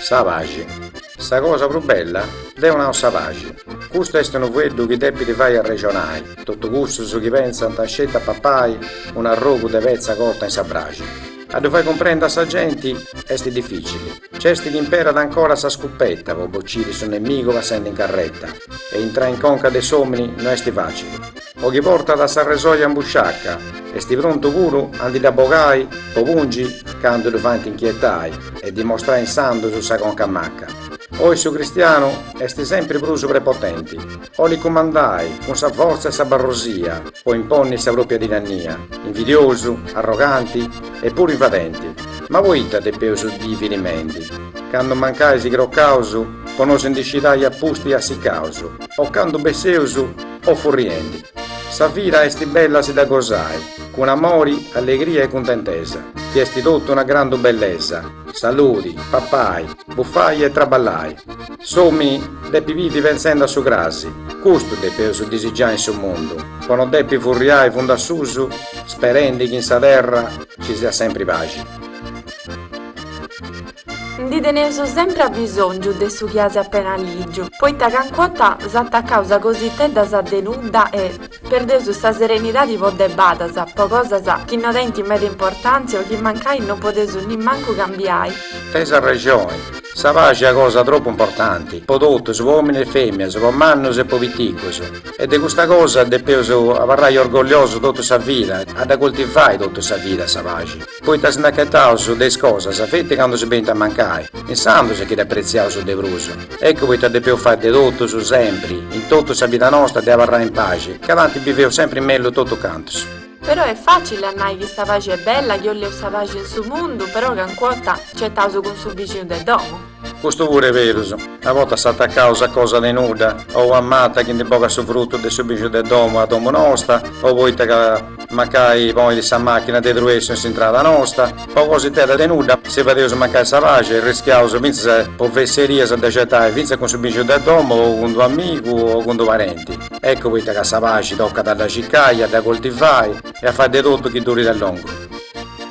Sa paxi. Sa cosa prus bella? Deo nau sa paxi. Custu est unu fueddu chi depit fai arrexonai totu cussus chi pensant sceti a papai un'arrogu de petza cota in sa braxi. A ddu fai cumprendi a sa genti est dificili. Nc'est chi imperat ancora sa scupeta po bociri su nemigu passendi in carreta e intrai in conca de s'omini no est facili. O chi portat s'arresoja in busciaca, est prontu puru a ndi dda bogai po pungi candu ddu faint inchietai e dimostrai insandus sa conca maca. Oi su cristianu est sempri prus prepotenti, 'olit cumandai cun sa fortza e sa barrosia po imponni sa propria tirannia, invidiosu, arroganti e puru invadenti. Ma poita depeus bivi timendi, candu mancai si crocaus po nosi ndi scidai a pusti assicaus, o candu besseus O furriendi. Sa vida est bella si dda gosai, cun amori, allegria e cuntentesa, chi est totu una grandu bellesa, saludi, papai, bufai e traballai. S'omi depit bivi pentzendi a su crasi, custu depeus disigiai in su mundu, po no depi furriai fundu a susu sperendi chi in sa terra ci siat sempri paxi. Ndi teneus sempri abisòngiu de su chi as apena lìgiu, poita canc'ota s'atacaus a cositeddas de nudda e perdeus sa serenidadi po debadas, po cosas chi no tenint meda importàntzia o chi mancai no podeus nimmancu cambiai. Teis arrexoni, sa paxi est una cosa tropu importanti po totus, po òmini e fèmias, po mannus e po piticus, e de custa cosa depeus abarrai orgolliosus totu sa vida, a dda coltivai totu sa vida sa paxi. Poita si nd'acataus de is cosas feti candu si benint a mancai, insandus sì chi dd'apretziaus de prus. Eccu poita depeus fai de totus, sempri, in totu sa vida nosta de abarrai in paxi, ca tanti biveus sempri in mellus totu cantus. Però est facili a nai chi sa paxi est bella chi 'olleus sa paxi in su mundu, però canc'ota cetaus cun su bixinu de domu. Custu puru est berus, a bortas s'atacaus a cosa de nudda, o una mata chi ndi bogat su frutu de su bixiu de domu a domu nosta, o poita ca mancai ponit sa machina de truessu in s'intrada nosta, po cositedda de nudda si fadeus mancai sa paxi e rischiaus fintzas po fesserias de cetai fintzas cun su bixiu de domu o cun d'u amigu o cun d'u parenti. Eccu poita ca sa paxi tocat a dda circai, a dda coltivai e a fai de totu chi durit a longu.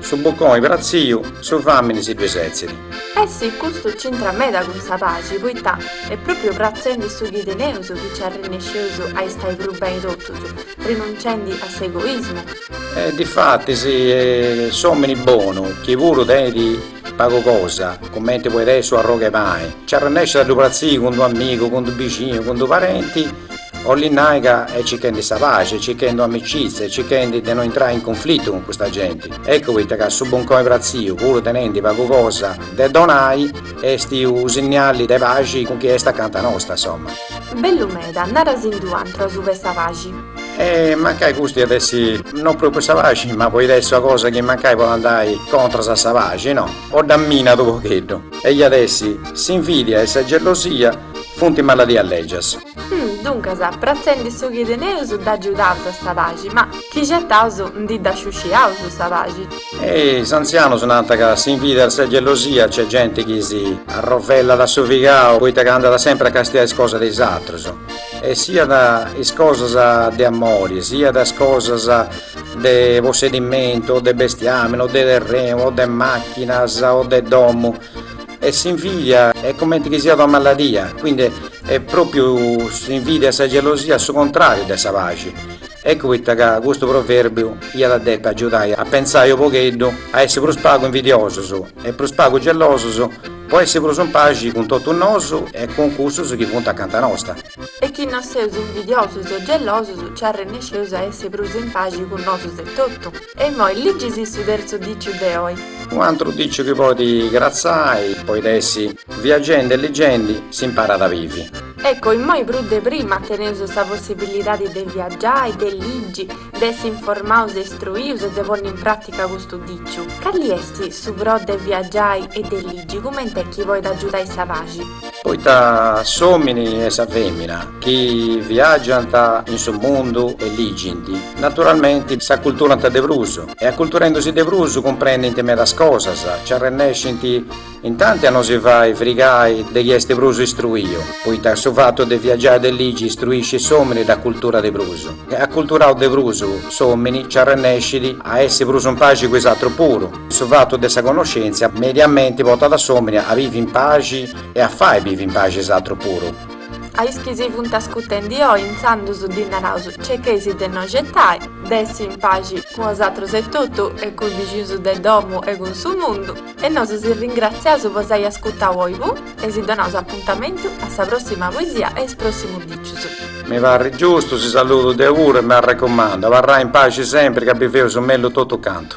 Su buconi pratziu, su famini si ddui setzit. E sì, custu c'intrat meda cun sa paxi, poita est propriu pratzendi su chi teneus chi ci arrennesceus a istai prus beni totus, rinunciendi a s'egoismu. E difatis s'omini bonu, chi puru tenit pagu cosa, cumenti podit essi u arrogu 'e pani, ci arrennescit a ddu pratziri cun d'u amigu, cun d'u bixinu, cun d'u parenti, Olit nai ca est cichendi sa paxi, cichendi amicizia e cichendi de no intrai in cunflitu cun custa genti. Eccu poita ca su buncoi pratziu, puru tenendi pagu cosa de donai, esti u sinniali de paxi cun chi est acanta nosta, insomma. Bellu meda, narasind'un'antru asuba 'e sa paxi. E mancai custu iat essi no propriu sa paxi, ma poit essi ua cosa chi mancai poit andai contras a sa paxi, no? O dda minat u pogheddu. E iat essi, s'invidia e sa gelosia funt maladias legias. Duncas, pratzendi su chi teneus dd'agiudaus a sa paxi, ma chi xetaus ndi dda sciusciaus sa paxi. Is antzianus nant ca s'invidia e sa gelosia nc'est genti chi si arrovellat a su figau poita ca andat sempri a castiai is cosas de is atrus, e siat is cosas de amori, siat is cosas de possedimentu o de bestiamini o de terrenu o de machinas o de domu. E s'invidia est cumenti chi siat una maladia, quindi est pròpiu s'invidia e sa gelosia su contràriu de sa paxi. Eccu poita ca custu provèrbiu iat a depi agiudai a pentzai u pogheddu a essi prus pagu invidiosus e prus pagu gelosus po essi prus in paxi cun totus nosu e cun cussus chi funt acanta nosta. E chi no seus invidiosus o gelosus, nci arrennesceus a essi prus in paxi cun nosus etotu. E immoi ligisì su terzu diciu de oi. Un'antru diciu chi podit cratzai, poit essi, viagendi e ligendi, s'imparat a bivi. Ecco, immoi prus de prima teneus sa possibilidadi de viagiai, de ligi, de essi informaus e istruius e de ponni in pràtica custu diciu. Cali est su pro de viagiai e de ligi cumenti est chi poit agiudai sa paxi? Poita s'omini e sa femina chi viagiant in su mundu e ligint, naturalmenti s'aculturant de prus e aculturendusì de prus cumprendint medas cosas, nci arrennescint intanti a no si fai frigai de chi est prus istruiu, poita su fatu de viagiai e de ligi istruiscit s'omini, dd'aculturat de prus. E aculturau de prus s'omini nci arrennescit a essi prus in paxi cun is atrus puru. Su fatu de sa connoscèntzia mediamenti portat a s'òmini a bivi in paxi e a fai bivi in paxi is atrus puru. A is chi si funt ascutendi oi intzandus ddis naraus cicheis de no xetai, de essi in paxi cun osatrus etotu e cun is bixinus de domu e cun su mundu e nosu si ringratziaus po s'ai ascutau oi puru e si donaus apuntamentu a sa prossima poesia e is prossimus dicius. Mi parit giustu, si saludu deu puru e m'arrecumandu, abarrai in paxi sempri ca biveus mellus totu cantu.